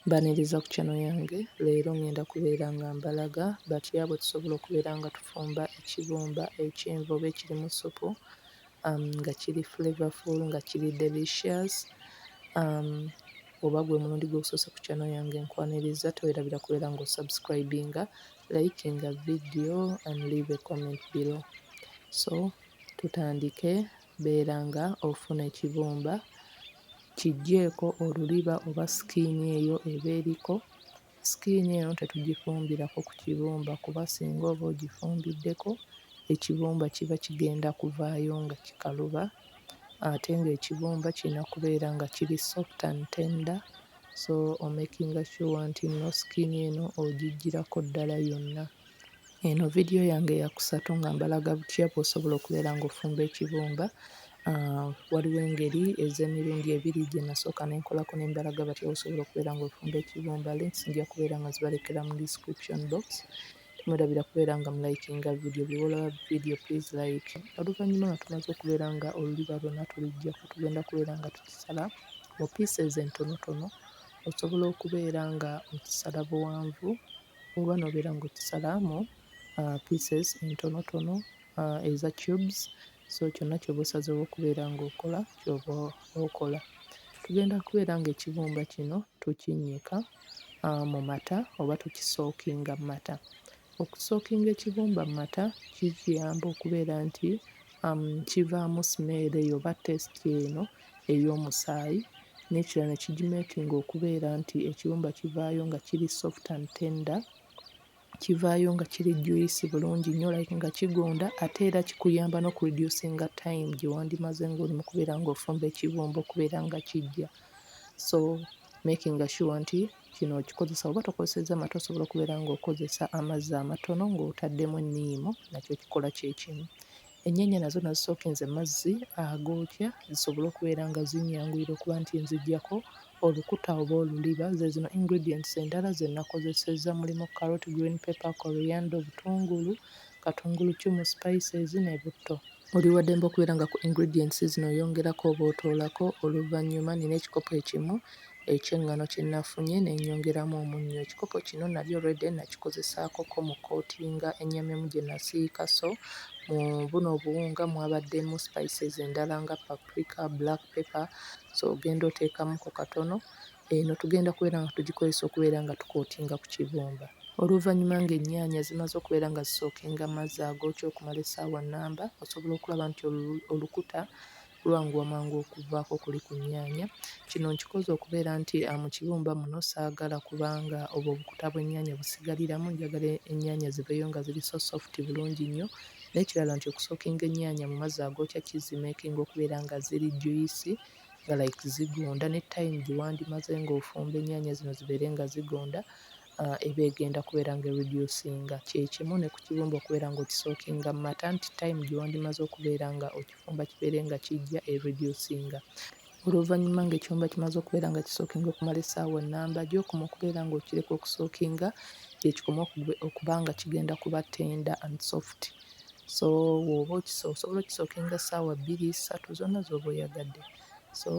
Mbaniriza ku channel yange leero ngenda kubeera nga mbalaga batya bwetusobola okubeera nga tufumba ekibumba ekyenvu oba ekirimu ssupu um nga kiri flavorful nga kiri delicious um oba gwe mulundi gwo ogusoose ku channel yange nkwaniriza tewerabira kubeera nga osubscribinga, likinga video and leave a comment below so tutandike. Beera nga ofuna ekibumba, kiggyeeko oluliba oba skin eyo eba eriko, skin eno tetugifumbirako ku kibumba kuba singa oba ogifumbiddeko ekibumba kiba kigenda kuvaayo nga kikaluba ate ng'ekibumba kirina kubeera nga kiri soft and tender so omekinga sure nti nno skin eno ogiggyirako ddala yonna. Eno vidiyo yange yakusatu nga mbalaga butya bw'osobola okubeera ng'ofumba ekibumba. Ah, waliwo engeri ez'emirundi ebiri gye nasooka ne nkolako ne mbalaga batya bw'osobola okubeera ng'ofumba ekibumba. Links nja kubeera nga zibalekera mu description box. Temwerabira kubeera nga mulayikinga vidiyo. Buli lw'olaba vidiyo please like. Oluvannyuma nga tumaze okubeera nga oluliba lwonna tuliggyako, tugenda kubeera nga tukisala mu pieces entonotono. Osobola okubeera nga okisala buwanvu Oba nobeera ng'okisalaamu pieces entonotono eza cubes, so kyonna ky'oba osazeewo okubeera ng'okola ky'oba okola. Tugenda kubeera ng'ekibumba kino tukinnyika mu mata oba tukisookinga mu mata. Okusookinga ekibumba mu mata kikiyamba okubeera nti kivaamu simeera eyo oba test eno ey'omusaayi n'ekirala ne kigimeekinga okubeera nti ekiyumba kivaayo nga kiri soft and tender, kivaayo nga kiri juyisi bulungi nnyo like nga kigonda ate era kikuyamba n'okureducinga time gye wandimaze ng'oli mu kubeera ng'ofumba ekibumba okubeera nga kiggya. So makinga sure nti kino okikozesa oba tokozesezza mata osobola okubeera ng'okozesa amazzi amatono ng'otaddemu enniimu nakyo kikola kye kimu. Ennyaanya nazo nazisookenze mu mazzi agookya zisobole okubeera nga zinnyanguyira okuba nti nziggyako olukuta oba oluliba. Ze zino ingredients endala ze nakozesezza mulimu, carrot, green pepper, coriander, obutungulu, katunguluccumu, spices ne butto. Oli wa ddembe okubeera nga ku ingredients zino oyongerako oba otoolako. Oluvannyuma nnina ekikopo ekimu eky'eŋŋano kye nafunye ne nnyongeramu omunnyo. Ekikopo kino nali already nakikozesaakoko mu kkootinga ennyamemu gye nasiika so mu buno obuwunga mwabaddemu spices endala nga paprika, black pepper so ogenda oteekamuko katono. Eno tugenda kubeera nga tugikozesa okubeera nga tukootinga ku kibumba. Oluvannyuma ng'ennyaanya zimaze okubeera nga zisookinga mazzi agookya okumala essaawa nnamba, osobola okulaba nti olukuta Lwanguwa mangu okuvaako kuli ku nnyaanya. Kino nkikoze okubeera nti mu kibumba muno saagala kubanga obwo obukuta bw'ennyaanya busigaliramu. Njagala ennyaanya ziveeyo nga ziri so sofuti bulungi nnyo. N'ekirala nti okusookinga ennyaanya mu mazzi agookya kizimeekinga okubeera nga ziri juyisi nga like zigonda. Ne tayimu gye wandimaze ng'ofumba ennyaanya zino zibeere nga zigonda. eba egenda kubeera nga ereducinga kyekimu ne ku kibumba okubeera nga okisookinga mu mata nti time gyewandimaze okubeera nga okifumba kibeere nga kijja ereducinga. Oluvannyuma ng'ekibumba kimaze okubeera nga kisookinga okumala essaawa nnamba gy'okoma okubeera ng'okireka okusookinga gye kikoma okuba nga kigenda kuba tender and soft. So bw'oba osobola okisookinga essaawa bbiri, ssatu zonna z'oba oyagadde. so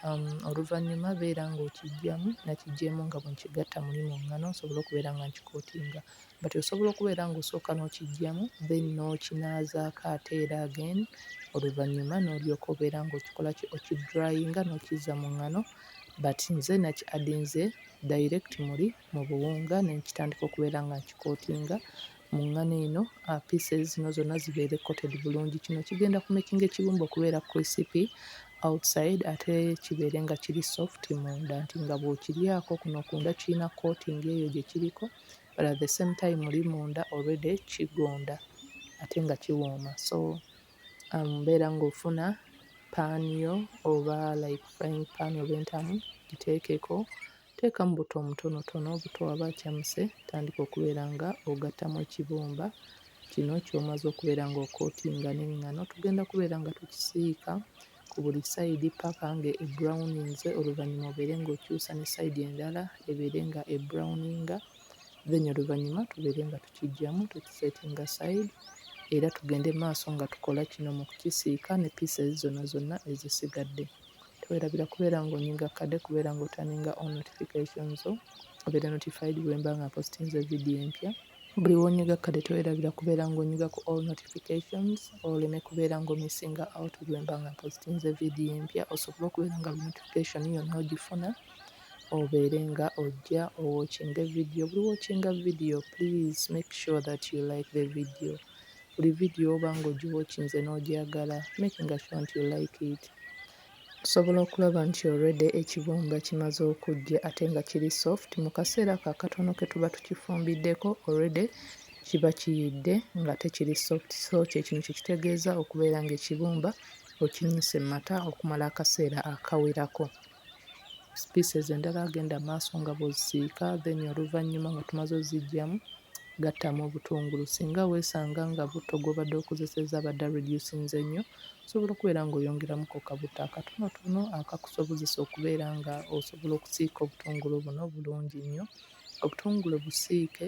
um, oluvannyuma beera ng'okijjamu nakijjeemu nga bwe nkigatta muli mu ngano nsobole okubeera nga nkikootinga but osobola okubeera ng'osooka n'okijjamu then n'okinaazaako ate era again oluvannyuma n'olyoka obeera ng'okikola ki okidrayinga n'okizza mu ngano but nze naki adinze direct muli mu buwunga ne nkitandika okubeera nga nkikootinga mu ŋŋano eno uh, pieces zino zonna zibeere coated bulungi kino kigenda ku making ekibumba okubeera crispy outside ate kibeere nga kiri soft munda nti nga bw'okiryako kuno kunda kirina coating eyo gye kiriko but at the same time oli munda already kigonda ate nga kiwooma so um, mbeera um, ng'ofuna paani yo oba like frying pan oba entamu giteekeko Teekamu buto omutonotono, obuto waba acamuse tandika okubeera nga ogattamu ekibumba kino kyomaze okubeera nga okootinga n'engano. Tugenda kubeera nga tukisiika ku buli sayidi paka nga ebrownings oluvannyuma obeere nga okyusa ne sayidi endala ebeere nga ebrowninga then oluvannyuma tubeere nga tukijjamu tukisetinga sayidi era tugende maaso nga tukola kino mu kukisiika ne pieces zonna zonna ezisigadde. Twerabira kubeera ng'onyiga kkade kubeera ng'otaninga on notification zo obeere notified bwe mba nga mpositinze vidiyo empya. Buli lw'onyiga kkade twerabira kubeera ng'onyiga ku all notifications oleme kubeera ng'omissinga out bwe mba nga mpositinze vidiyo empya osobole okubeera nga buli notification yonna ogifuna obeere nga ojja owokinge vidiyo. Buli wokinga vidiyo please make sure that you like the video. buli video oba nga ogiwatchinze n'ogyagala making sure nti you like it osobola okulaba nti already ekibumba kimaze okujja ate nga kiri soft mu kaseera ako akatono ke tuba tukifumbiddeko already kiba kiyidde nga tekiri soft so kyekino kyekitegeeza okubeera nga ekibumba okinyise mu mata okumala akaseera akawerako. species endala agenda maaso nga bwozisiika then oluvannyuma nga tumaze oziggyamu gattamu obutungulu singa weesanga nga butto gw'obadde okozesezza abadde areducinze ennyo osobola okubeera ng'oyongeramuko kabutto akatonotono akakusobozesa okubeera nga osobola okusiika obutungulu buno bulungi nnyo obutungulu busiike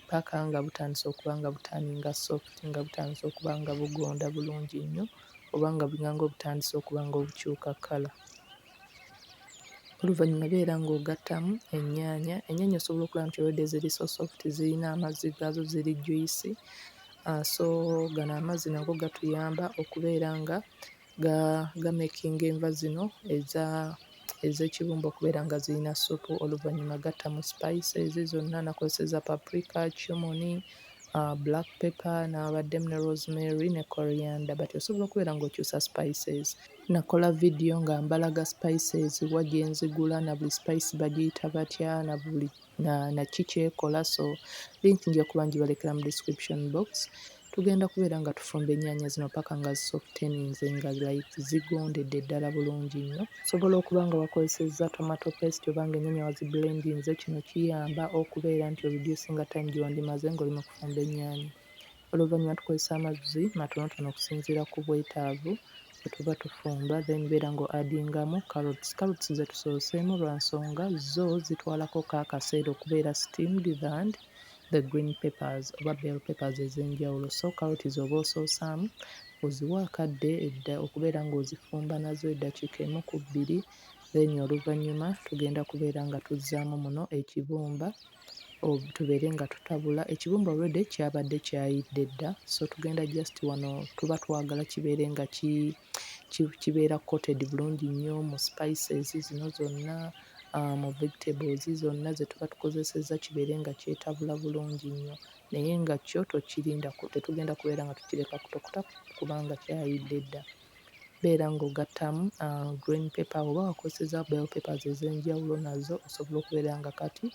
paka nga butandise okuba nga butaaninga soft nga butandise okuba nga bugonda bulungi nnyo oba nga obulango butandise okuba nga obukyuka kkala. Oluvannyuma beera ng'ogattamu ennyaanya. Ennyaanya osobola okulaba nti already ziri so soft, zirina amazzi gaazo, ziri juyisi. Ah, so gano amazzi nago gatuyamba okubeera nga ga gamekinga enva zino eza ez'ekibumba okubeera nga zirina ssupu. Oluvannyuma gattamu spices zonna, nakozesezza paprika, cumin, black pepper nabaddemu ne rosemary ne coriander but osobola okubeera ng'okyusa spices. Nakola vidiyo nga mbalaga spices wa gye nzigula na buli spice bagiyita batya na buli na na ki kyekola so link nja kuba ngibalekera mu description box. Tugenda kubeera nga tufumba ennyaanya zino paka nga zisoftenize nga like zigondedde ddala bulungi nnyo. Osobola okuba nga wakozesezza tomato paste oba nga ennyanya wazibbulendinze, kino kiyamba okubeera nti oreducinga time gye wandimaze ng'oli mu kufumba ennyaanya. Oluvannyuma tukozesa amazzi matonotono okusinziira ku bwetaavu bwe tuba tufumba then beera nga oadingamu carrots. Carrots ze tusooseemu lwa nsonga zo zitwalako ko akaseera okubeera steamed than the green papers oba bell papers ez'enjawulo so carrot z'oba osoosaamu oziwa akadde edda okubeera ng'ozifumba nazo eddakiika emu ku bbiri then oluvannyuma tugenda kubeera nga tuzzaamu muno ekibumba tubeere nga tutabula ekibumba already kyabadde kyayidde dda so tugenda just wano tuba twagala kibeere nga ki kibeera coated bulungi nnyo mu spices zino zonna, mu vegetables zonna ze tuba tukozesezza kibeere nga kyetabula bulungi nnyo. Naye nga kyo tokirinda, tetugenda kubeera nga tukireka kutokota kubanga kyayidde dda. Beera ng'ogattamu green paper oba wakozesezza bell peppers ez'enjawulo nazo osobola okubeera nga kati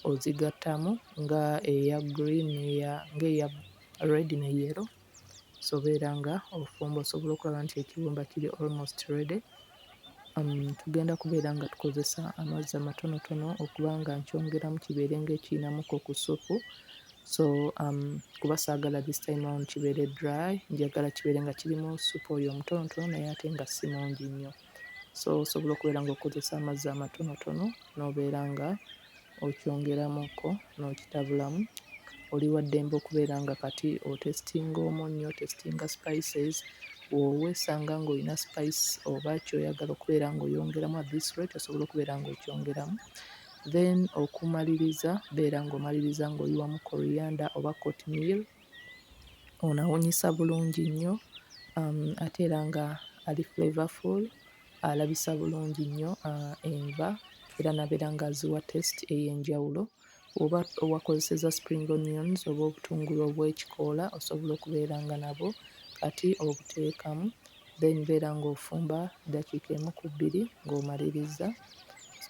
ozigattamu nga eya green n'eya, ng'eya red ne yellow. sobera nga ofumba osobola okulaba nti ekiwumba kiri almost ready um, tugenda kubeera nga tukozesa amazzi amatonotono okuba nga nkyongeramu kibeere nga ekiinamuko ku supu so um, kuba saagala this time on kibeere dry njagala kibeere nga kirimu supu oyo omutonotono naye ate nga si mungi nnyo so osobola okubeera nga okozesa amazzi amatonotono n'obeera nga okyongeramuko n'okitabulamu oli wa ddembe okubeera nga kati otesitinga omunnyo, otesitinga spices olwo weesanga ng'olina spice oba ky'oyagala okubeera ng'oyongeramu at this rate osobola okubeera ng'okyongeramu then okumaliriza beera ng'omaliriza ng'oyiwamu kkoliyanda oba kotimiru ono awunyisa bulungi nnyo ate era nga ali flavoufull. alabisa bulungi nnyo enva era nabeera nga aziwa test ey'enjawulo oba owakozeseza spring onions oba obutungulu obw'ekikoola osobola okubeera nga nabwo kati obuteekamu then beera ng'ofumba ddakiika emu ku bbiri ng'omalirizza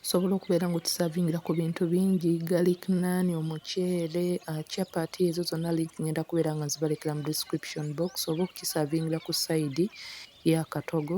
osobola okubeera ng'okisavingira ku bintu bingi galik nani omuceere ah, chapati ezo zonna link ngenda kubeera nga nzibalekera mu description box oba okukisavingira ku sayidi y'akatogo